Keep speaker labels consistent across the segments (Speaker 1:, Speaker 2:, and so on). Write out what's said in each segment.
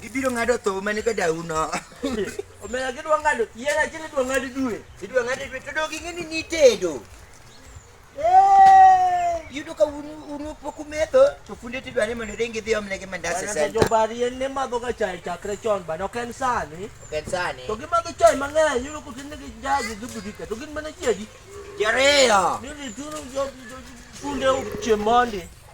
Speaker 1: Gibiro ng'ado tho mane ka dau no. Omera
Speaker 2: gidwa ng'ado yien achiel idwa ng'ad due. Idwa ng'ad due to dog
Speaker 1: ing'e ni nitedo. Yudo ka unu pok umetho to funde tidwa ni mondo ringi dhi omne gi mandas e senta. Jobar yien ne
Speaker 2: madho ga chai chakre chon bana ok en sani. Ok en sani. To gimadho chai mang'eny yudo ka tin gi jaji gi budika to gin mana chiegi. Jariyo.
Speaker 1: Nini tunu jo
Speaker 2: funde uche mondi.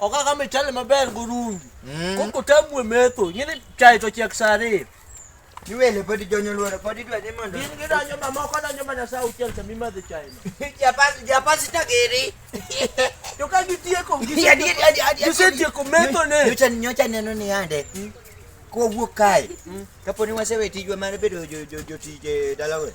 Speaker 2: okaka michele maber gurungi mm. koko tamwe metho nyini chai to chiek saa ariyo niwele
Speaker 1: podi jonyo lworo podi dwa
Speaker 2: ni mondo in
Speaker 1: gidanyo
Speaker 2: mamoko danyo mana saa auchiel sama
Speaker 1: imadho chaino japasi tagiri
Speaker 2: to ka gitieko gisetieko methone nyocha neno ni
Speaker 1: ande mm. kowuok kae mm. kaponi wasewe tijwa mar bedo jotije dalawe